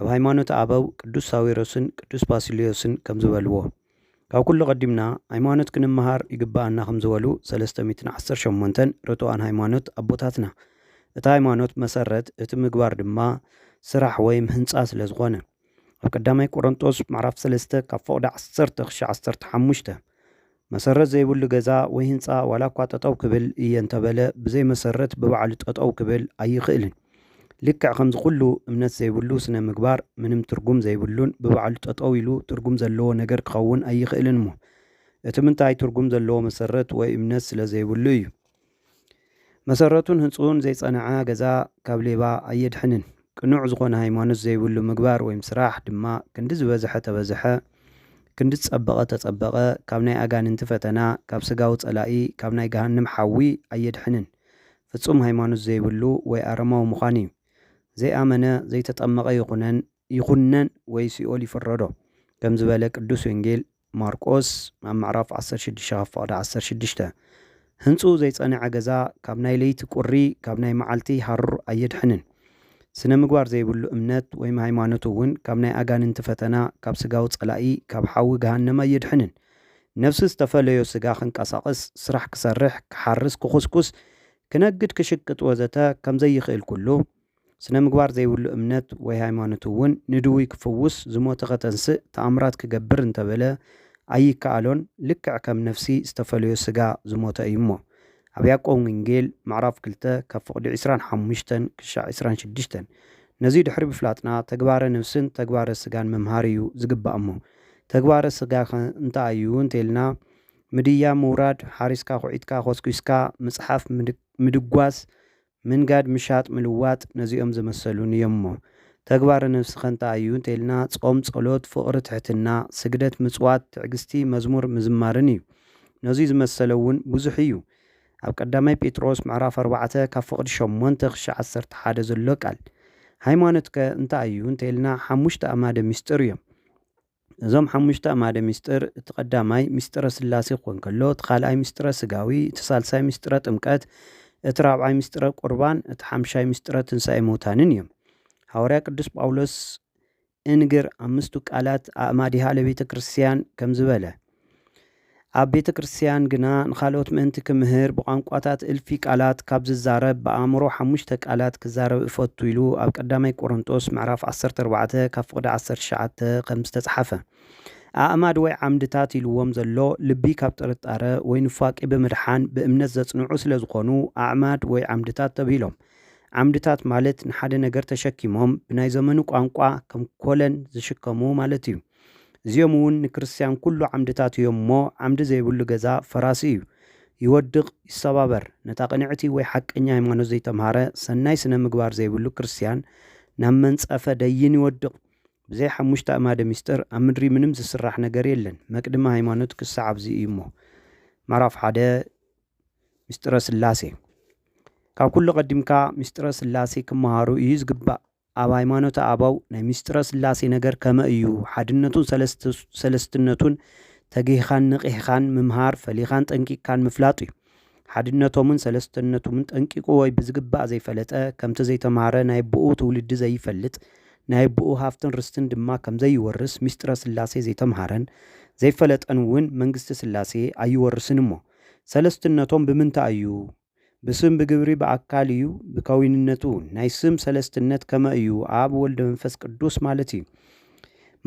ኣብ ሃይማኖት ኣበው ቅዱስ ሳዊሮስን ቅዱስ ባሲልዮስን ከምዝበልዎ ካብ ኩሉ ቀዲምና ሃይማኖት ክንመሃር ይግብኣና ከምዝበሉ ሰለስተ ሚእትን ዓሰርተ ሸሞንተን ርቱዓን ሃይማኖት ኣቦታትና እቲ ሃይማኖት መሰረት እቲ ምግባር ድማ ስራሕ ወይም ህንፃ ስለዝኾነ ኣብ ቀዳማይ ቆሮንጦስ ምዕራፍ ሰለስተ ካብ ፎቕዲ ዓሰርተ ክሻ ዓሰርተ ሓሙሽተ መሰረት ዘይብሉ ገዛ ወይ ህንጻ ዋላ እኳ ጠጠው ክብል እየ እንተበለ ብዘይ መሰረት ብባዕሉ ጠጠው ክብል ኣይኽእልን። ልክዕ ከምዚ ኩሉ እምነት ዘይብሉ ስነ ምግባር ምንም ትርጉም ዘይብሉን ብባዕሉ ጠጠው ኢሉ ትርጉም ዘለዎ ነገር ክኸውን ኣይኽእልን እሞ እቲ ምንታይ ትርጉም ዘለዎ መሰረት ወይ እምነት ስለ ዘይብሉ እዩ። መሰረቱን ህንጽኡን ዘይጸነዐ ገዛ ካብ ሌባ ኣየድሕንን። ቅኑዕ ዝኾነ ሃይማኖት ዘይብሉ ምግባር ወይም ስራሕ ድማ ክንዲ ዝበዝሐ ተበዝሐ፣ ክንዲ ዝጸበቐ ተጸበቐ፣ ካብ ናይ ኣጋንንቲ ፈተና፣ ካብ ስጋዊ ጸላኢ፣ ካብ ናይ ገሃንም ሓዊ ኣየድሕንን። ፍጹም ሃይማኖት ዘይብሉ ወይ ኣረማዊ ምዃን እዩ። ዘይኣመነ ዘይተጠመቐ ይኹነን ይኹነን ወይ ሲኦል ይፍረዶ ከም ዝበለ ቅዱስ ወንጌል፣ ማርቆስ ኣብ ምዕራፍ ዓሰርተ ሽዱሽተ ካብ ፍቕዲ ዓሰርተ ሽዱሽተ ህንጽኡ ዘይጸንዐ ገዛ ካብ ናይ ለይቲ ቁሪ ካብ ናይ መዓልቲ ሃሩር ኣየድሕንን። ስነ ምግባር ዘይብሉ እምነት ወይም ሃይማኖት እውን ካብ ናይ ኣጋንንቲ ፈተና ካብ ስጋዊ ጸላኢ ካብ ሓዊ ገሃነም ኣየድሕንን። ነፍሲ ዝተፈለዮ ስጋ ክንቀሳቕስ ስራሕ ክሰርሕ ክሓርስ ክኹስኩስ ክነግድ ክሽቅጥ ወዘተ ከምዘይኽእል ኩሉ ስነ ምግባር ዘይብሉ እምነት ወይ ሃይማኖት እውን ንድውይ ክፍውስ፣ ዝሞተ ከተንስእ፣ ተኣምራት ክገብር እንተበለ ኣይከኣሎን፣ ልክዕ ከም ነፍሲ ዝተፈለዮ ስጋ ዝሞተ እዩ እሞ። ኣብ ያዕቆብ ወንጌል ምዕራፍ ክልተ ካብ ፍቕዲ ዕስራን ሓሙሽተን ክሻዕ ዕስራን ሽዱሽተን ነዙይ ድሕሪ ምፍላጥና ተግባረ ነፍስን ተግባረ ስጋን ምምሃር እዩ ዝግባእ እሞ ተግባረ ስጋኸ እንታይ እዩ እንተይልና ምድያብ ምውራድ ሓሪስካ ኹዒትካ ኮስኲስካ ምፅሓፍ ምድጓስ ምንጋድ ምሻጥ ምልዋጥ ነዚኦም ዘመሰሉን እዮምሞ ተግባረ ነብስከ እንታይ እዩ እንተኢልና ጾም ጸሎት ፍቕሪ ትሕትና ስግደት ምጽዋት ትዕግስቲ መዝሙር ምዝማርን እዩ ነዙይ ዝመሰለ እውን ብዙሕ እዩ ኣብ ቀዳማይ ጴጥሮስ ምዕራፍ ኣርባዕተ ካብ ፍቕዲ ሸሞንተ ክሻዕ ዓሰርተ ሓደ ዘሎ ቃል ሃይማኖትከ እንታይ እዩ እንተኢልና ሓሙሽተ ኣእማደ ምስጢር እዮም እዞም ሓሙሽተ ኣማደ ምስጢር፣ እቲ ቀዳማይ ምስጢረ ሥላሴ ክኾን ከሎ፣ እቲ ካልኣይ ምስጢረ ሥጋዊ፣ እቲ ሣልሳይ ምስጢረ ጥምቀት፣ እቲ ራብዓይ ምስጢረ ቍርባን፣ እቲ ሓምሻይ ምስጢረ ትንሣኤ ምውታንን እዮም። ሓዋርያ ቅዱስ ጳውሎስ እንግር ኣምስቱ ቃላት ኣእማዲሃ ለቤተ ክርስቲያን ከምዚ በለ፣ ኣብ ቤተ ክርስትያን ግና ንኻልኦት ምእንቲ ክምህር ብቋንቋታት እልፊ ቃላት ካብ ዝዛረብ ብኣእምሮ ሓሙሽተ ቃላት ክዛረብ እፈቱ ኢሉ ኣብ ቀዳማይ ቆሮንጦስ ምዕራፍ ዓሰርተ ኣርባዕተ ካብ ፍቕዲ ዓሰርተ ትሽዓተ ከም ዝተጽሓፈ ኣእማድ ወይ ዓምድታት ኢልዎም ዘሎ ልቢ ካብ ጥርጣረ ወይ ንፋቂ ብምድሓን ብእምነት ዘጽንዑ ስለ ዝኾኑ ኣዕማድ ወይ ዓምድታት ተብሂሎም ዓምድታት ማለት ንሓደ ነገር ተሸኪሞም ብናይ ዘመኑ ቋንቋ ከም ኮለን ዝሽከሙ ማለት እዩ እዚኦም እውን ንክርስትያን ኩሉ ዓምድታቱ እዮም እሞ ዓምዲ ዘይብሉ ገዛ ፈራሲ እዩ ይወድቕ ይሰባበር ነታ ቅንዕቲ ወይ ሓቀኛ ሃይማኖት ዘይተምሃረ ሰናይ ስነ ምግባር ዘይብሉ ክርስትያን ናብ መንጸፈ ደይን ይወድቕ ብዘይ ሓሙሽተ ኣእማደ ምስጢር ኣብ ምድሪ ምንም ዝስራሕ ነገር የለን። መቅድመ ሃይማኖት ክሳዕ ኣብዚ እዩ እሞ ምዕራፍ ሓደ ምስጢረ ስላሴ ካብ ኩሉ ቀዲምካ ምስጢረ ስላሴ ክመሃሩ እዩ ዝግባእ። ኣብ ሃይማኖተ ኣበው ናይ ምስጢረ ሥላሴ ነገር ከመ እዩ ሓድነቱን ሠለስትነቱን ተጊህኻን ንቒሕኻን ምምሃር ፈሊኻን ጠንቂቅካን ምፍላጥ እዩ። ሓድነቶምን ሠለስተነቱምን ጠንቂቁ ወይ ብዝግባእ ዘይፈለጠ ከምቲ ዘይተምሃረ ናይ ኣቦኡ ትውልዲ ዘይፈልጥ ናይ ኣቦኡ ሃፍትን ርስትን ድማ ከምዘይወርስ ምስጢረ ሥላሴ ዘይተምሃረን ዘይፈለጠን እውን መንግሥተ ሥላሴ ኣይወርስን እሞ ሠለስትነቶም ብምንታይ እዩ ብስም ብግብሪ ብኣካል እዩ ብከዊንነቱ ናይ ስም ሰለስትነት ከመ እዩ ኣብ ወልደ መንፈስ ቅዱስ ማለት እዩ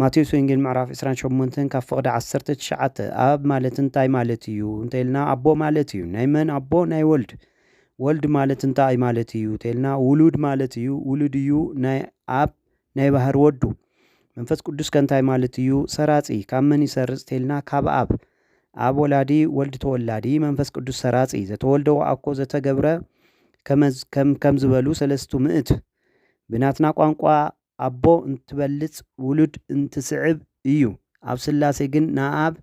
ማቴዎስ ወንጌል ምዕራፍ 28 ካብ ፍቕዲ 19 ኣብ ማለት እንታይ ማለት እዩ እንተልና ኣቦ ማለት እዩ ናይ መን ኣቦ ናይ ወልድ ወልድ ማለት እንታይ ማለት እዩ እንተልና ውሉድ ማለት እዩ ውሉድ እዩ ናይ ኣብ ናይ ባህር ወዱ። መንፈስ ቅዱስ ከ እንታይ ማለት እዩ? ሰራጺ ካብ መን ይሰርጽ ቴልና ካብ ኣብ። ኣብ ወላዲ ወልድ ተወላዲ መንፈስ ቅዱስ ሰራጺ ዘተወልደ ወኣኮ ዘተገብረ ከመዝ ከም ከም ዝበሉ ሰለስቱ ምእት። ብናትና ቋንቋ ኣቦ እንትበልጽ ውሉድ እንትስዕብ እዩ። ኣብ ስላሴ ግን ንኣኣብ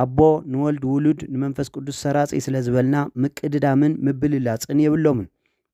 ኣቦ ንወልድ ውሉድ ንመንፈስ ቅዱስ ሰራጺ ስለ ዝበልና ምቅድዳምን ምብልላጽን የብሎምን።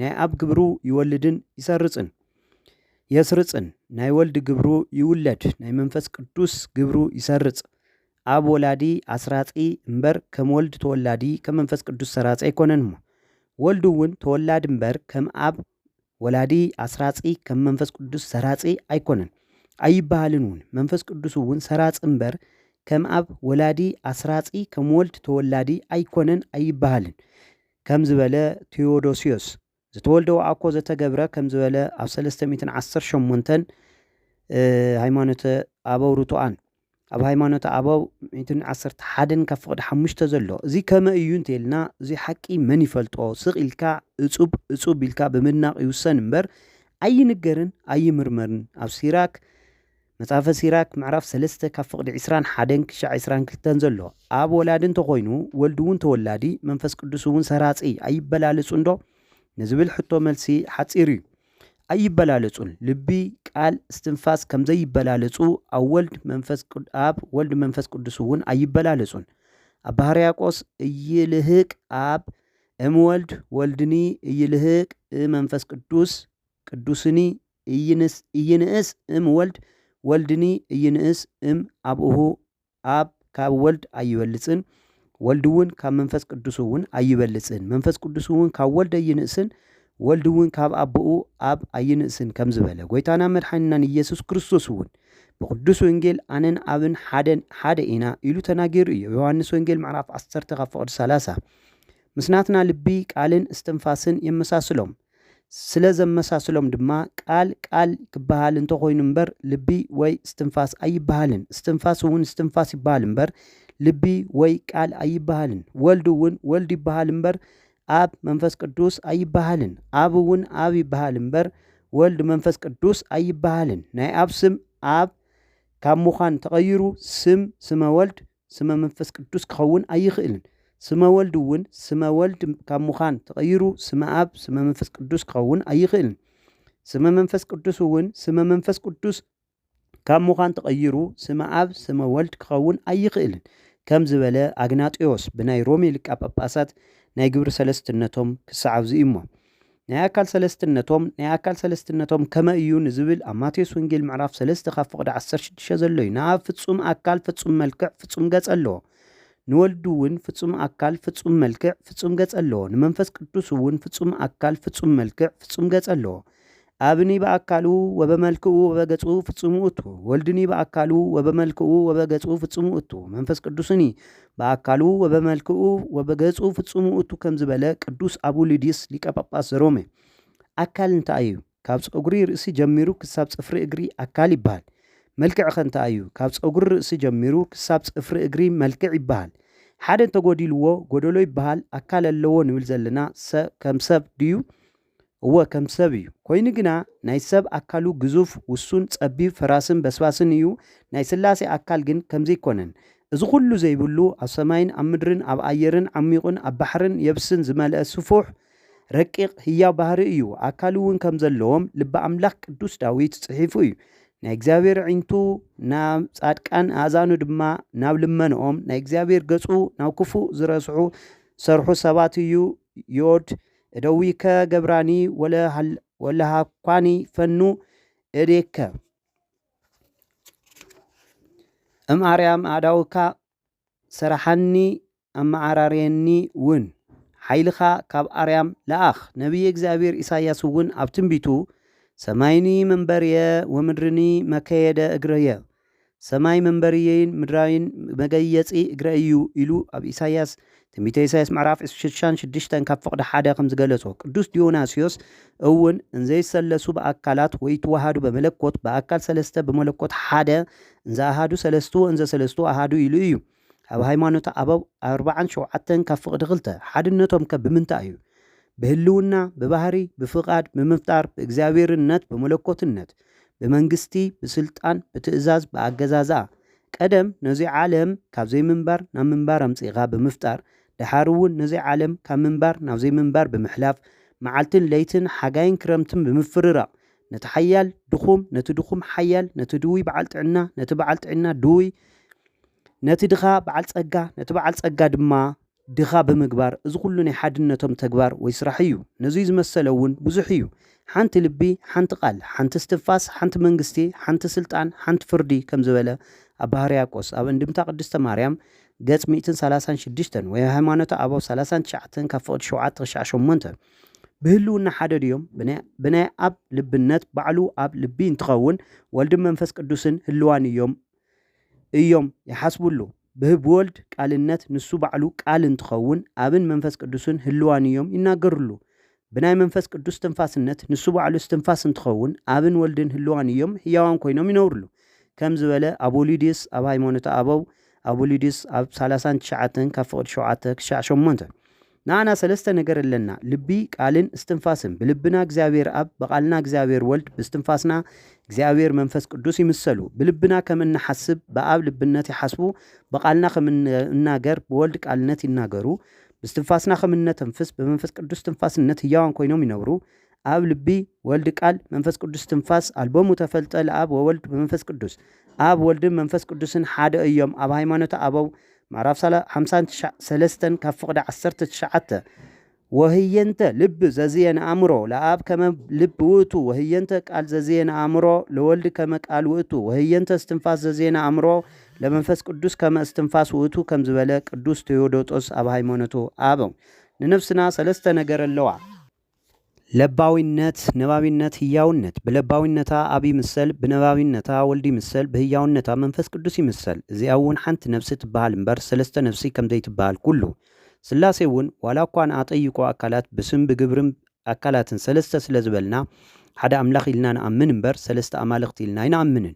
ናይ ኣብ ግብሩ ይወልድን ይሰርጽን የስርጽን ናይ ወልድ ግብሩ ይውለድ ናይ መንፈስ ቅዱስ ግብሩ ይሰርጽ ኣብ ወላዲ ኣስራጺ እምበር ከም ወልድ ተወላዲ ከም መንፈስ ቅዱስ ሰራጺ ኣይኮነን እሞ ወልድ እውን ተወላዲ እምበር ከም ኣብ ወላዲ ኣስራጺ ከም መንፈስ ቅዱስ ሰራጺ ኣይኮነን ኣይበሃልን እውን መንፈስ ቅዱስ እውን ሰራጺ እምበር ከም ኣብ ወላዲ ኣስራጺ ከም ወልድ ተወላዲ ኣይኮነን ኣይበሃልን ከም ዝበለ ቲዮዶስዮስ ዘተወልደ ወኣኮ ዘተገብረ ከም ዝበለ ኣብ ሰለስተ ሚእትን ዓሰርተ ሸሞንተን ሃይማኖተ ኣበው ርቱኣን ኣብ ሃይማኖተ ኣበው ሚእትን ዓሰርተ ሓደን ካብ ፍቕዲ ሓሙሽተ ዘሎ እዚ ከመ እዩ እንተይልና እዚ ሓቂ መን ይፈልጦ ስቕ ኢልካ እፁብ እፁብ ኢልካ ብምድናቕ ይውሰን እምበር ኣይንገርን ኣይምርመርን ኣብ ሲራክ መጽሐፈ ሲራክ ምዕራፍ ሰለስተ ካብ ፍቕዲ ዕስራን ሓደን ክሻዕ ዕስራን ክልተን ዘሎ ኣብ ወላዲ እንተ ኾይኑ ወልድውን ተወላዲ መንፈስ ቅዱስውን ሰራጺ ኣይበላለጹንዶ ንዝብል ሕቶ መልሲ ሓጺር እዩ ኣይበላለጹን ልቢ ቃል እስትንፋስ ከም ዘይበላለጹ ኣብ ወልድ መንፈስ ኣብ ወልድ መንፈስ ቅዱስውን ኣይበላለጹን ኣብ ባህርያቆስ እይልህቅ ኣብ እምወልድ ወልድኒ እይልህቅ እመንፈስ ቅዱስ ቅዱስኒ ኢይንእስ እም ወልድ ወልድኒ ኢይንእስ እም ኣብሁ ኣብ ካብ ወልድ ኣይበልጽን ወልድውን ካብ መንፈስ ቅዱስውን ኣይበልጽን መንፈስ ቅዱስውን ካብ ወልድ ኣይንእስን ወልድውን ካብ ኣቦኡ ኣብ ኣይንእስን ከም ዝበለ ጎይታና መድሓኒናን ኢየሱስ ክርስቶስ እውን ብቅዱስ ወንጌል ኣነን ኣብን ሓደን ሓደ ኢና ኢሉ ተናገሩ እዩ ዮሐንስ ወንጌል ምዕራፍ 10 ካብ ፍቅድ 30 ምስናትና ልቢ ቃልን እስትንፋስን የመሳስሎም ስለ ዘመሳስሎም ድማ ቃል ቃል ክበሃል እንተ ኾይኑ እምበር ልቢ ወይ እስትንፋስ ኣይበሃልን። እስትንፋስ እውን እስትንፋስ ይበሃል እምበር ልቢ ወይ ቃል ኣይበሃልን። ወልድ እውን ወልድ ይበሃል እምበር ኣብ መንፈስ ቅዱስ ኣይበሃልን። ኣብ እውን ኣብ ይበሃል እምበር ወልድ መንፈስ ቅዱስ ኣይበሃልን። ናይ ኣብ ስም ኣብ ካብ ምዃን ተቐይሩ ስም ስመ ወልድ ስመ መንፈስ ቅዱስ ክኸውን ኣይኽእልን። ስመ ወልድ እውን ስመ ወልድ ካብ ምዃን ተቐይሩ ስመ ኣብ ስመ መንፈስ ቅዱስ ክኸውን ኣይኽእልን። ስመ መንፈስ ቅዱስ እውን ስመ መንፈስ ቅዱስ ካብ ምዃን ተቐይሩ ስመ ኣብ ስመ ወልድ ክኸውን ኣይኽእልን ከም ዝበለ ኣግናጢዮስ ብናይ ሮሜ ሊቃ ጳጳሳት ናይ ግብሪ ሰለስትነቶም ክሰዓብዙ እዩ እሞ ናይ ኣካል ሰለስትነቶም ናይ ኣካል ሰለስትነቶም ከመ እዩ ንዝብል ኣብ ማቴዎስ ወንጌል ምዕራፍ ሰለስተ ካብ ፍቕዲ ዓሰርተ ሽዱሽተ ዘሎ እዩ ንኣብ ፍጹም ኣካል ፍጹም መልክዕ ፍጹም ገጽ ኣለዎ ንወልዱ እውን ፍጹም ኣካል ፍጹም መልክዕ ፍጹም ገጽ ኣለዎ ንመንፈስ ቅዱስ እውን ፍጹም ኣካል ፍጹም መልክዕ ፍጹም ገጽ ኣለዎ ኣብኒ በኣካሉ ወበመልክኡ ወበገጹ ፍጹም ውእቱ ወልድኒ በኣካሉ ወበመልክኡ ወበገጹ ፍጹም ውእቱ መንፈስ ቅዱስኒ በኣካሉ ወበመልክኡ ወበገጹ ፍጹም ውእቱ ከም ዝበለ ቅዱስ ኣቡሊዲስ ሊቀ ጳጳስ ዘሮሜ ኣካል እንታይ እዩ? ካብ ጸጉሪ ርእሲ ጀሚሩ ክሳብ ጽፍሪ እግሪ ኣካል ይበሃል። መልክዕ ኸ እንታይ እዩ? ካብ ጸጉሪ ርእሲ ጀሚሩ ክሳብ ጽፍሪ እግሪ መልክዕ ይበሃል። ሓደ እንተጎዲልዎ ጎደሎ ይበሃል። ኣካል ኣለዎ ንብል ዘለና ሰ ከም ሰብ ድዩ? እወ ከም ሰብ እዩ ኮይኑ ግና ናይ ሰብ ኣካሉ ግዙፍ ውሱን ጸቢብ ፈራስን በስባስን እዩ ናይ ስላሴ ኣካል ግን ከምዚ ኣይኮነን እዚ ኩሉ ዘይብሉ ኣብ ሰማይን ኣብ ምድርን ኣብ ኣየርን ዓሚቁን ኣብ ባሕርን የብስን ዝመልአ ስፉሕ ረቂቅ ህያው ባህሪ እዩ ኣካል እውን ከም ዘለዎም ልበ ኣምላክ ቅዱስ ዳዊት ጽሒፉ እዩ ናይ እግዚኣብሔር ኣዒንቱ ናብ ጻድቃን ኣእዛኑ ድማ ናብ ልመንኦም ናይ እግዚኣብሔር ገጹ ናብ ክፉእ ዝረስሑ ሰርሑ ሰባት እዩ ዮድ እደዊከ ገብራኒ ወለሃኳኒ ፈኑ እዴከ እም ኣርያም ኣእዳውካ ሰራሓኒ ኣመዓራርየኒ ውን ሓይልኻ ካብ ኣርያም ለኣኽ ነቢየ እግዚኣብሔር ኢሳያስ ውን ኣብ ትንቢቱ ሰማይኒ መንበርየ ወምድርኒ መከየደ እግርየ ሰማይ መንበርየይን ምድራይን መገየፂ እግረይ እዩ ኢሉ ኣብ ኢሳይያስ ትንቢተ ኢሳይያስ ምዕራፍ ሽሻን ሽድሽተን ካብ ፍቕዲ ሓደ ከም ዝገለጾ ቅዱስ ዲዮናስዮስ እውን እንዘይሰለሱ ብኣካላት ወይ ትወሃዱ በመለኮት ብኣካል ሰለስተ ብመለኮት ሓደ እንዘ ኣሃዱ ሰለስቱ ወእንዘ ሰለስቱ ኣሃዱ ኢሉ እዩ። ካብ ሃይማኖተ ኣበው ኣርብዓን ሸውዓተን ካብ ፍቕዲ ክልተ፣ ሓድነቶም ከ ብምንታይ እዩ? ብህልውና፣ ብባህሪ፣ ብፍቓድ፣ ብምፍጣር፣ ብእግዚኣብሔርነት፣ ብመለኮትነት፣ ብመንግስቲ፣ ብስልጣን፣ ብትእዛዝ፣ ብኣገዛዝኣ፣ ቀደም ነዙይ ዓለም ካብ ዘይምንባር ናብ ምንባር ኣምፂእኻ ብምፍጣር፣ ደሓር እውን ነዙይ ዓለም ካብ ምንባር ናብ ዘይምንባር ብምሕላፍ፣ መዓልትን ለይትን፣ ሓጋይን ክረምትን ብምፍርራቕ፣ ነቲ ሓያል ድኹም፣ ነቲ ድኹም ሓያል፣ ነቲ ድውይ በዓል ጥዕና፣ ነቲ በዓል ጥዒና ድውይ፣ ነቲ ድኻ በዓል ጸጋ፣ ነቲ በዓል ጸጋ ድማ ድኻ ብምግባር እዚ ኩሉ ናይ ሓድነቶም ተግባር ወይ ስራሕ እዩ። ነዙይ ዝመሰለ እውን ብዙሕ እዩ። ሓንቲ ልቢ፣ ሓንቲ ቃል፣ ሓንቲ እስትንፋስ፣ ሓንቲ መንግስቲ፣ ሓንቲ ስልጣን፣ ሓንቲ ፍርዲ ከም ዝበለ ኣባ ህርያቆስ ኣብ እንድምታ ቅድስተ ማርያም ገጽ ሚእትን ሰላሳን ሽዱሽተን ወይ ሃይማኖተ ኣበው ሰላሳን ትሽዓተን ካብ ፍቕዲ ሸውዓተ ክሻዕ ሸሞንተ ብህልውና ሓደ ድዮም? ብናይ ኣብ ልብነት ባዕሉ ኣብ ልቢ እንትኸውን ወልድን መንፈስ ቅዱስን ህልዋን እዮም እዮም ይሓስብሉ። ብህብወልድ ቃልነት ንሱ ባዕሉ ቃል እንትኸውን ኣብን መንፈስ ቅዱስን ህልዋን እዮም ይናገርሉ። ብናይ መንፈስ ቅዱስ ትንፋስነት ንሱ ባዕሉ እስትንፋስ እንትኸውን ኣብን ወልድን ህልዋን እዮም ህያዋን ኮይኖም ይነብርሉ። ከም ዝበለ ኣቦሊዲስ ኣብ ሃይማኖተ ኣበው ኣቦሊዲስ ኣብ ሳላሳን ትሽዓተን ካብ ፍቕዲ ሸውዓተ ክሻዕ ሸሞንተ ንኣና ሰለስተ ነገር ኣለና፣ ልቢ፣ ቃልን እስትንፋስን። ብልብና እግዚኣብሔር ኣብ፣ ብቃልና እግዚኣብሔር ወልድ፣ ብእስትንፋስና እግዚኣብሔር መንፈስ ቅዱስ ይምሰሉ። ብልብና ከም እንሓስብ ብኣብ ልብነት ይሓስቡ፣ ብቃልና ከም እንናገር ብወልድ ቃልነት ይናገሩ፣ ብእስትንፋስና ከም እነተንፍስ ብመንፈስ ቅዱስ ትንፋስነት ህያዋን ኮይኖም ይነብሩ። ኣብ ልቢ ወልድ ቃል መንፈስ ቅዱስ ትንፋስ ኣልቦሙ ተፈልጠ ለኣብ ወወልድ በመንፈስ ቅዱስ ኣብ ወልድን መንፈስ ቅዱስን ሓደ እዮም ኣብ ሃይማኖተ ኣበው ምዕራፍ ሳላ- ሓምሳን ትሽዓ- ሰለስተን ካብ ፍቕዲ ዓሰርተ ትሽዓተ ወህየንተ ልብ ዘዝየ ንኣእምሮ ለኣብ ከመ ልብ ውእቱ ወህየንተ ቃል ዘዝየ ንኣእምሮ ለወልድ ከመ ቃል ውእቱ ወህየንተ እስትንፋስ ዘዝየ ንኣእምሮ ለመንፈስ ቅዱስ ከመ እስትንፋስ ውእቱ ከም ዝበለ ቅዱስ ቴዎዶጦስ ኣብ ሃይማኖቱ ኣበው ንነፍስና ሰለስተ ነገር ኣለዋ ለባዊነት፣ ነባቢነት፣ ህያውነት፣ ብለባዊነታ ኣብ ይምሰል፣ ብነባቢነታ ወልድ ይምሰል፣ ብህያውነታ መንፈስ ቅዱስ ይምሰል፣ እዚኣ'ውን ሓንቲ ነፍሲ ትበሃል እምበር ሠለስተ ነፍሲ ከም ዘይትበሃል ኩሉ፣ ሥላሴ'ውን ዋላ እኳ ንኣጠይቆ ኣካላት ብስም ብግብርን ኣካላትን ሠለስተ ስለ ዝበልና ሓደ ኣምላኽ ኢልና ንኣምን እምበር ሠለስተ ኣማልኽቲ ኢልና ኣይንኣምንን።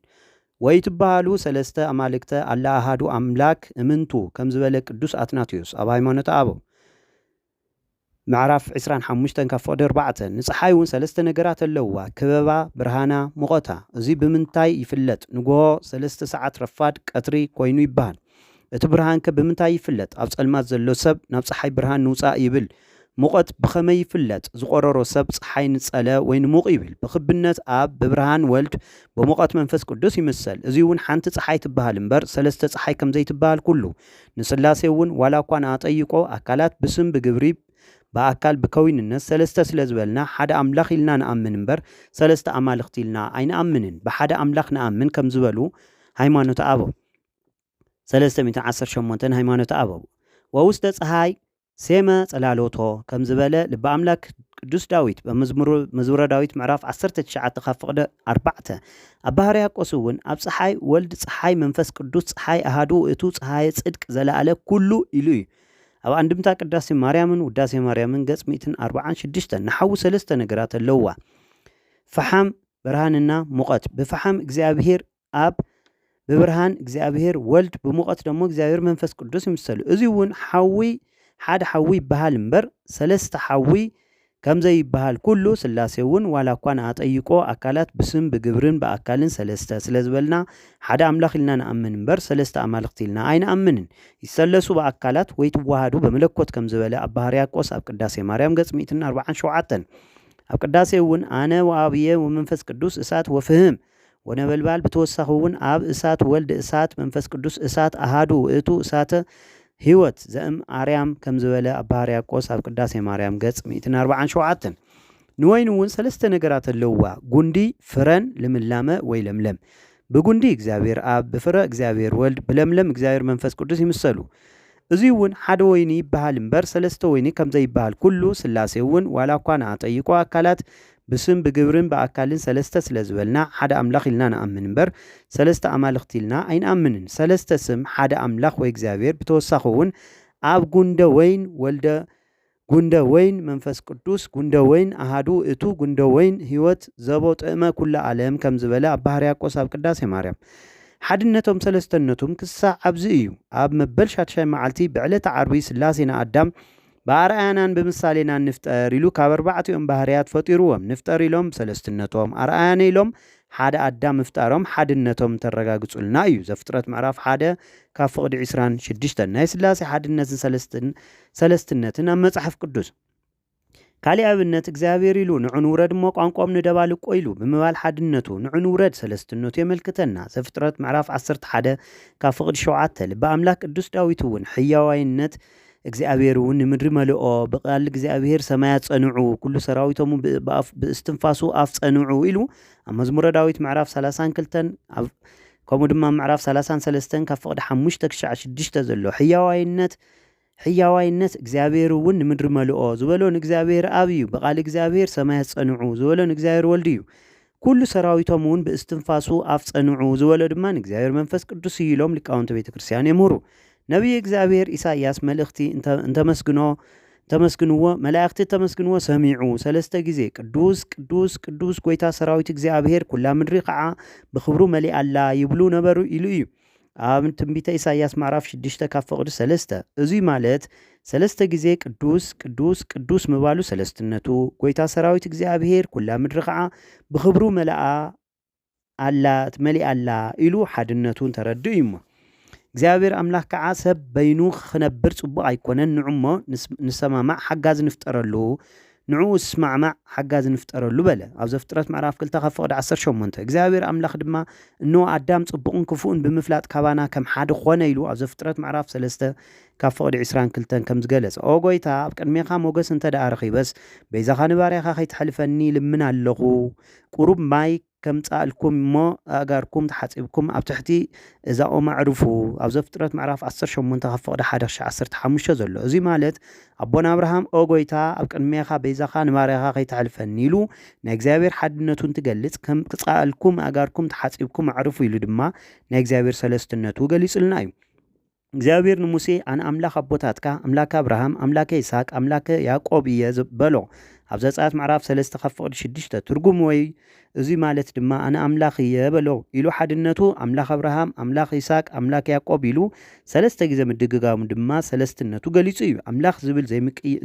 ወይትበሃሉ ሠለስተ ኣማልክተ ኣላ ኣሃዱ ኣምላክ እምንቱ ከም ዝበለ ቅዱስ ኣትናቴዎስ ኣብ ሃይማኖተ ኣበው ምዕራፍ ዕስራን ሓሙሽተን ካብ ፍቕዲ ኣርባዕተ፣ ንጸሓይ እውን ሰለስተ ነገራት ኣለዉዋ፣ ክበባ፣ ብርሃና፣ ሙቐታ። እዙይ ብምንታይ ይፍለጥ? ንጉሆ፣ ሰለስተ ሰዓት፣ ረፋድ፣ ቀትሪ፣ ኮይኑ ይበሃል። እቲ ብርሃንከ ብምንታይ ይፍለጥ? ኣብ ጸልማት ዘሎ ሰብ ናብ ጸሓይ ብርሃን ንውጻእ ይብል። ሙቐት ብኸመይ ይፍለጥ? ዝቖረሮ ሰብ ጸሓይ ንጸለ ወይ ንሙቕ ይብል። ብክብነት ኣብ፣ ብብርሃን ወልድ፣ ብሙቐት መንፈስ ቅዱስ ይምሰል። እዙይ እውን ሓንቲ ጸሓይ ትበሃል እምበር ሰለስተ ጸሓይ ከምዘይትበሃል ኩሉ ንስላሴ እውን ዋላ እኳ ንኣጠይቆ ኣካላት ብስም ብግብሪ ብኣካል ብከዊንነት ሰለስተ ስለ ዝበልና ሓደ ኣምላኽ ኢልና ንኣምን እምበር ሰለስተ ኣማልኽቲ ኢልና ኣይንኣምንን ብሓደ ኣምላኽ ንኣምን ከም ዝበሉ ሃይማኖተ ኣበው ሰለስተ ሚእትን ዓሰርተ ሸሞንተን ሃይማኖተ ኣበው ወውስተ ፀሃይ ሴመ ጸላሎቶ ከም ዝበለ ልበ ኣምላክ ቅዱስ ዳዊት ብ መዝሙሩ መዝሙረ ዳዊት ምዕራፍ ዓሰርተ ትሽዓተ ካብ ፍቅደ ኣርባዕተ ኣብ ብ ሕርያቆስ እውን ኣብ ጸሓይ ወልድ ጸሓይ መንፈስ ቅዱስ ጸሓይ ኣሃዱ ውእቱ ጸሃየ ጽድቅ ዘላኣለ ኩሉ ኢሉ እዩ ኣብ ኣንድምታ ቅዳሴ ማርያምን ውዳሴ ማርያምን ገጽ ሚእትን ኣርብዓን ሽዱሽተን ንሓዊ ሰለስተ ነገራት ኣለውዋ ፈሓም ብርሃንና ሙቀት ብፈሓም እግዚኣብሔር ኣብ ብብርሃን እግዚኣብሔር ወልድ ብሙቐት ደሞ እግዚኣብሔር መንፈስ ቅዱስ ይምሰሉ። እዚ እውን ሓዊ ሓደ ሓዊ ይበሃል እምበር ሰለስተ ሓዊ ከምዘይበሃል ኩሉ ስላሴ እውን ዋላ እኳ ንኣጠይቆ ኣካላት ብስም ብግብርን ብኣካልን ሰለስተ ስለዝበልና ሓደ ኣምላኽ ኢልና ንኣምን እምበር ሰለስተ ኣማልኽቲ ኢልና ኣይንኣምንን። ይሰለሱ ብኣካላት ወይ ትዋሃዱ በመለኮት ከም ዝበለ ኣባ ሕርያቆስ ኣብ ቅዳሴ ማርያም ገጽ ሚእትን ኣርብዓን ሸውዓተን ኣብ ቅዳሴ እውን ኣነ ወኣብየ ወመንፈስ ቅዱስ እሳት ወፍህም ወነበልባል ብተወሳኺ እውን ኣብ እሳት ወልድ እሳት መንፈስ ቅዱስ እሳት ኣሃዱ ውእቱ እሳተ ሕይወት ዘእም ኣርያም ከም ዝበለ ኣባ ሕርያቆስ ኣብ ቅዳሴ ማርያም ገጽ ሚእትን ኣርብዓን ሸውዓተን ንወይኒ እውን ሰለስተ ነገራት ኣለውዋ ጉንዲ ፍረን ልምላመ ወይ ለምለም ብጉንዲ እግዚኣብሔር ኣብ ብፍረ እግዚኣብሔር ወልድ ብለምለም እግዚኣብሔር መንፈስ ቅዱስ ይምሰሉ እዙይ እውን ሓደ ወይኒ ይበሃል እምበር ሰለስተ ወይኒ ከምዘይበሃል ኩሉ ሥላሴ እውን ዋላ እኳ ንኣጠይቆ ኣካላት ብስም ብግብርን ብኣካልን ሰለስተ ስለ ዝበልና ሓደ ኣምላኽ ኢልና ንኣምን እምበር ሰለስተ ኣማልኽቲ ኢልና ኣይንኣምንን። ሰለስተ ስም ሓደ ኣምላኽ ወይ እግዚኣብሔር ብተወሳኺ እውን ኣብ ጉንደ ወይን ወልደ ጉንደ ወይን መንፈስ ቅዱስ ጉንደ ወይን ኣሃዱ እቱ ጉንደ ወይን ሕይወት ዘቦ ጥእመ ኩለ ዓለም ከም ዝበለ ኣባ ሕርያቆስ ኣብ ቅዳሴ ማርያም ሓድነቶም ሰለስተነቱም ክሳዕ ኣብዚ እዩ ኣብ መበል ሻትሻይ መዓልቲ ብዕለተ ዓርቢ ሥላሴ ንኣዳም ብኣርኣያናን ብምሳሌናን ንፍጠር ኢሉ ካብ ኣርባዕቲኦም ባህርያት ፈጢሩዎም። ንፍጠር ኢሎም ብሰለስትነቶም፣ ኣርኣያነ ኢሎም ሓደ ኣዳም ምፍጣሮም ሓድነቶም እንተረጋግጹልና እዩ። ዘፍጥረት ምዕራፍ ሓደ ካብ ፍቕዲ ዕስራን ሽዱሽተን። ናይ ስላሴ ሓድነትን ሰለስትን ሰለስትነትን ኣብ መጽሓፍ ቅዱስ። ካሊእ ኣብነት እግዚኣብሔር ኢሉ ንዑ ንውረድ እሞ ቋንቋኦም ንደባልቆ ኢሉ ብምባል ሓድነቱ፣ ንዑ ንውረድ ሰለስትነቱ የመልክተና። ዘፍጥረት ምዕራፍ ዓሰርተ ሓደ ካብ ፍቕዲ ሸውዓተ። ልበ ኣምላክ ቅዱስ ዳዊት እውን ሕያዋይነት፣ እግዚኣብሔር እውን ንምድሪ መልኦ ብቃል እግዚኣብሔር ሰማያት ጸንዑ ኩሉ ሰራዊቶሙ ብእስትንፋሱ ኣፍ ጸንዑ ኢሉ ኣብ መዝሙረ ዳዊት ምዕራፍ 32 ኣብ ከምኡ ድማ ምዕራፍ 33 ካብ ፍቕዲ 5 ክሻዕ 6 ዘሎ ሕያዋይነት ሕያዋይነት እግዚኣብሔር እውን ንምድሪ መልኦ ዝበሎ ንእግዚኣብሔር ኣብ እዩ ብቃል እግዚኣብሔር ሰማያት ጸንዑ ዝበሎ ንእግዚኣብሔር ወልድ እዩ ኵሉ ሰራዊቶም እውን ብእስትንፋሱ ኣፍ ጸንዑ፣ ዝበሎ ድማ ንእግዚኣብሔር መንፈስ ቅዱስ እዩ ኢሎም ሊቃውንተ ቤተ ክርስቲያን የምህሩ። ነቢየ እግዚኣብሔር ኢሳይያስ መልእኽቲ እንተመስግኖ እንተመስግንዎ መላእኽቲ እተመስግንዎ ሰሚዑ ሰለስተ ጊዜ ቅዱስ ቅዱስ ቅዱስ ጐይታ ሰራዊት እግዚኣብሔር ኵላ ምድሪ ኸዓ ብኽብሩ መሊኣ ኣላ ይብሉ ነበሩ ኢሉ እዩ። ኣብ ትንቢተ ኢሳይያስ ምዕራፍ ሽዱሽተ ካብ ፍቕዲ ሰለስተ፣ እዙይ ማለት ሰለስተ ጊዜ ቅዱስ፣ ቅዱስ፣ ቅዱስ ምባሉ ሰለስትነቱ፣ ጐይታ ሰራዊት እግዚኣብሔር ኵላ ምድሪ ኸዓ ብኽብሩ መልኣ ኣላ መሊኣ ኣላ ኢሉ ሓድነቱ እንተረድእ እዩ እሞ እግዚኣብሔር ኣምላኽ ከዓ ሰብ በይኑ ክነብር ጽቡቕ ኣይኮነን ንዑ እሞ ንሰማማዕ ሓጋዚ ንፍጠረሉ ንዕኡ ዝስማዕማዕ ሓጋዚ ንፍጠረሉ በለ። ኣብ ዘፍጥረት ምዕራፍ ክልተ ካብ ፍቕዲ ዓሰርተ ሸሞንተ፣ እግዚኣብሔር ኣምላኽ ድማ እንሆ ኣዳም ጽቡቕን ክፉእን ብምፍላጥ ካባና ከም ሓደ ኾነ ኢሉ ኣብ ዘፍጥረት ምዕራፍ ሰለስተ ካብ ፍቕዲ ዕስራን ክልተን ከም ዝገለጸ ኦ ጐይታ ኣብ ቅድሜኻ ሞገስ እንተደኣ ረኺበስ በይዛኻ ንባርያኻ ከይተሕልፈኒ ይልምን ኣለኹ ቁሩብ ማይ ከምጽኣልኩም እሞ ኣእጋርኩም ተሓጺብኩም ኣብ ትሕቲ እዛ ኦም ኣዕርፉ። ኣብ ዘፍጥረት ምዕራፍ ዓሰርተ ሸሞንተ ካብ ፍቕዲ ሓደ ክሻዕ ዓሰርተ ሓሙሽተ ዘሎ። እዙይ ማለት ኣቦና ኣብርሃም ኦ ጎይታ ኣብ ቅድሜኻ በይዛኻ ንባርያኻ ከይተሕልፈኒ ኢሉ ናይ እግዚኣብሔር ሓድነቱ እንትገልጽ ከም ክጽኣልኩም ኣእጋርኩም ተሓጺብኩም ኣዕርፉ ኢሉ ድማ ናይ እግዚኣብሔር ሰለስትነቱ ገሊጽልና እዩ። እግዚኣብሄር ንሙሴ፣ ኣነ ኣምላኽ ኣቦታትካ፣ ኣምላከ ኣብርሃም፣ ኣምላከ ይስሃቅ፣ ኣምላከ ያእቆብ እየ በሎ። ኣብ ዘጸኣት ምዕራፍ ሰለስተ ካብ ፍቕዲ ሽዱሽተ፣ ትርጉም ወይ እዙይ ማለት ድማ ኣነ ኣምላኽ እየ በሎ ኢሉ ሓድነቱ ኣምላኽ ኣብርሃም፣ ኣምላኽ ይስሃቅ፣ ኣምላክ ያእቆብ ኢሉ ሰለስተ ግዜ ምድግጋሙ ድማ ሰለስትነቱ ገሊጹ እዩ። ኣምላኽ ዝብል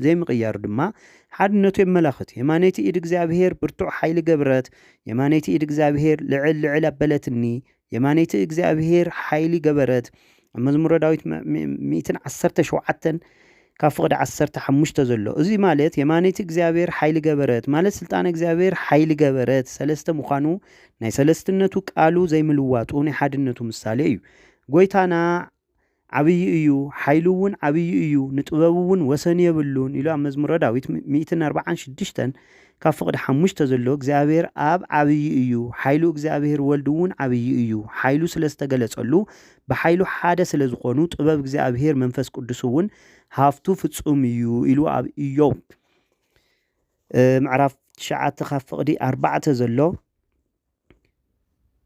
ዘይምቕያሩ ድማ ሓድነቱ የመላኽት። የማነይቲ ኢድ እግዚኣብሄር ብርቱዕ ሓይሊ ገብረት፣ የማነይቲ ኢድ እግዚኣብሄር ልዕል ልዕል ኣበለትኒ፣ የማነይቲ እግዚኣብሄር ሓይሊ ገበረት ኣብ መዝሙረ ዳዊት ሚእትን ዓሰርተ ሸውዓተን ካብ ፍቕዲ ዓሰርተ ሓሙሽተ ዘሎ እዚ ማለት የማነይቲ እግዚኣብሔር ሓይሊ ገበረት ማለት ስልጣን እግዚኣብሔር ሓይሊ ገበረት ሰለስተ ምዃኑ ናይ ሰለስትነቱ ቃሉ ዘይምልዋጡ ናይ ሓድነቱ ምሳሌ እዩ ጎይታና ዓብዪ እዩ፣ ሓይሉውን ዓብዪ እዩ፣ ንጥበቡውን ወሰን የብሉን ኢሉ ኣብ መዝሙረ ዳዊት ሚእትን ኣርብዓን ሽዱሽተን ካብ ፍቕዲ ሓሙሽተ ዘሎ እግዚኣብሔር ኣብ ዓብዪ እዩ፣ ሓይሉ እግዚኣብሔር ወልድውን ዓብዪ እዩ፣ ሓይሉ ስለ ዝተገለጸሉ ብሓይሉ ሓደ ስለ ዝኾኑ ጥበብ እግዚኣብሔር መንፈስ ቅዱስውን ሃፍቱ ፍጹም እዩ ኢሉ ኣብ ኢዮብ ምዕራፍ ትሽዓተ ካብ ፍቕዲ ኣርባዕተ ዘሎ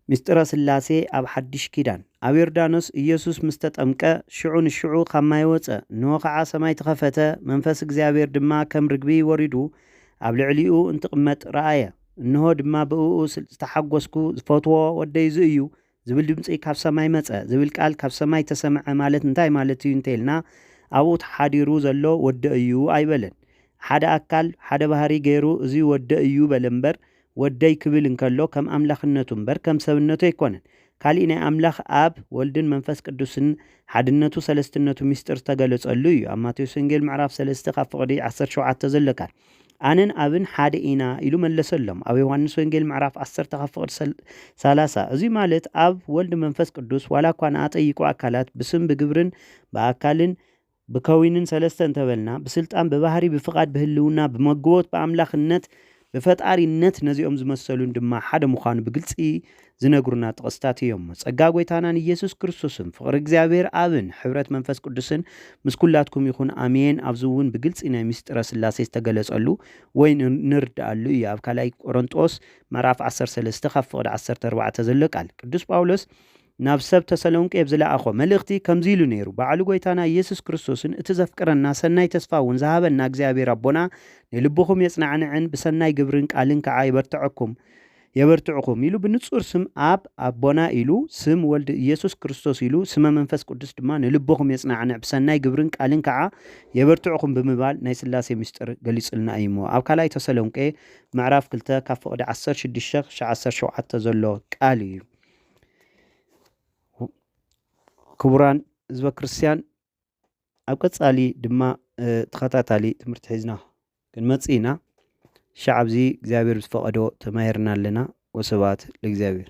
ምስጢረ ሥላሴ ኣብ ሓዲሽ ኪዳን። ኣብ ዮርዳኖስ ኢየሱስ ምስ ተጠምቀ፣ ሽዑ ንሽዑ ኻብ ማይ ወጸ፣ እንሆ ኸዓ ሰማይ ተኸፈተ፣ መንፈስ እግዚኣብሔር ድማ ከም ርግቢ ወሪዱ ኣብ ልዕሊኡ እንትቕመጥ ረኣየ። እንሆ ድማ ብእኡ ዝተሓጐስኩ ዝፈትዎ ወደይ እዚ እዩ፣ ዝብል ድምጺ ካብ ሰማይ መጸ ዝብል ቃል ካብ ሰማይ ተሰምዐ ማለት እንታይ ማለት እዩ እንተይልና ኣብኡ ተሓዲሩ ዘሎ ወደ እዩ ኣይበለን። ሓደ ኣካል ሓደ ባህሪ ገይሩ እዚ ወደ እዩ በለ እምበር ወደይ ክብል እንከሎ ከም ኣምላኽነቱ እምበር ከም ሰብነቱ ኣይኮነን። ካሊእ ናይ ኣምላኽ ኣብ ወልድን መንፈስ ቅዱስን ሓድነቱ ሰለስትነቱ ሚስጢር ዝተገለጸሉ እዩ ኣብ ማቴዎስ ወንጌል ምዕራፍ ሰለስተ ካብ ፍቕዲ ዓሰርተ ሸውዓተ ዘሎ ቃል ኣነን ኣብን ሓደ ኢና ኢሉ መለሰሎም። ኣብ ዮሃንስ ወንጌል ምዕራፍ ዓሰርተ ካብ ፍቕድ ሰላሳ እዙይ ማለት ኣብ ወልድ መንፈስ ቅዱስ ዋላ እኳ ንኣጠይቁ ኣካላት ብስም ብግብርን ብኣካልን ብከዊንን ሰለስተ እንተበልና ብስልጣን ብባህሪ ብፍቓድ ብህልውና ብመግቦት ብኣምላኽነት ብፈጣሪነት ነዚኦም ዝመሰሉን ድማ ሓደ ምዃኑ ብግልፂ ዝነግሩና ጥቕስታት እዮምሞ ጸጋ ጐይታናን ኢየሱስ ክርስቶስን ፍቕሪ እግዚኣብሔር ኣብን ሕብረት መንፈስ ቅዱስን ምስ ኵላትኩም ይኹን ኣሜን ኣብዚ እውን ብግልጺ ናይ ምስጢረ ሥላሴ ዝተገለጸሉ ወይ ንርድኣሉ እዩ ኣብ ካልኣይ ቆሮንጦስ ምዕራፍ ዓሰርተ ሰለስተ ካብ ፍቕዲ ዓሰርተ ኣርባዕተ ዘሎ ቃል ቅዱስ ጳውሎስ ናብ ሰብ ተሰሎንቄ ብዝለኣኾ መልእኽቲ ከምዚ ኢሉ ነይሩ ባዕሉ ጐይታና ኢየሱስ ክርስቶስን እቲ ዘፍቅረና ሰናይ ተስፋ እውን ዝሃበና እግዚኣብሔር ኣቦና ንልብኹም የጽናዕንዕን ብሰናይ ግብርን ቃልን ከዓ ይበርትዐኩም የበርትዕኹም ኢሉ ብንጹር ስም ኣብ ኣቦና ኢሉ ስም ወልድ ኢየሱስ ክርስቶስ ኢሉ ስመ መንፈስ ቅዱስ ድማ ንልቦኹም የጽናዕንዕ ብሰናይ ግብርን ቃልን ከኣ የበርትዕኹም ብምባል ናይ ስላሴ ምስጢር ገሊጹልና እዩ እሞ ኣብ ካልኣይ ተሰሎንቄ ምዕራፍ ክልተ ካብ ፍቕዲ ዓሰርተ ሽዱሽተ ክሻዕ ዓሰርተ ሸውዓተ ዘሎ ቃል እዩ ክቡራን ህዝበ ክርስቲያን ኣብ ቀጻሊ ድማ ተኸታታሊ ትምህርቲ ሒዝና ክንመጽእ ኢና ሻዕ ኣብዚ እግዚኣብሔር ዝፈቐዶ ተማሂርና ኣለና ወስብሐት ለእግዚኣብሔር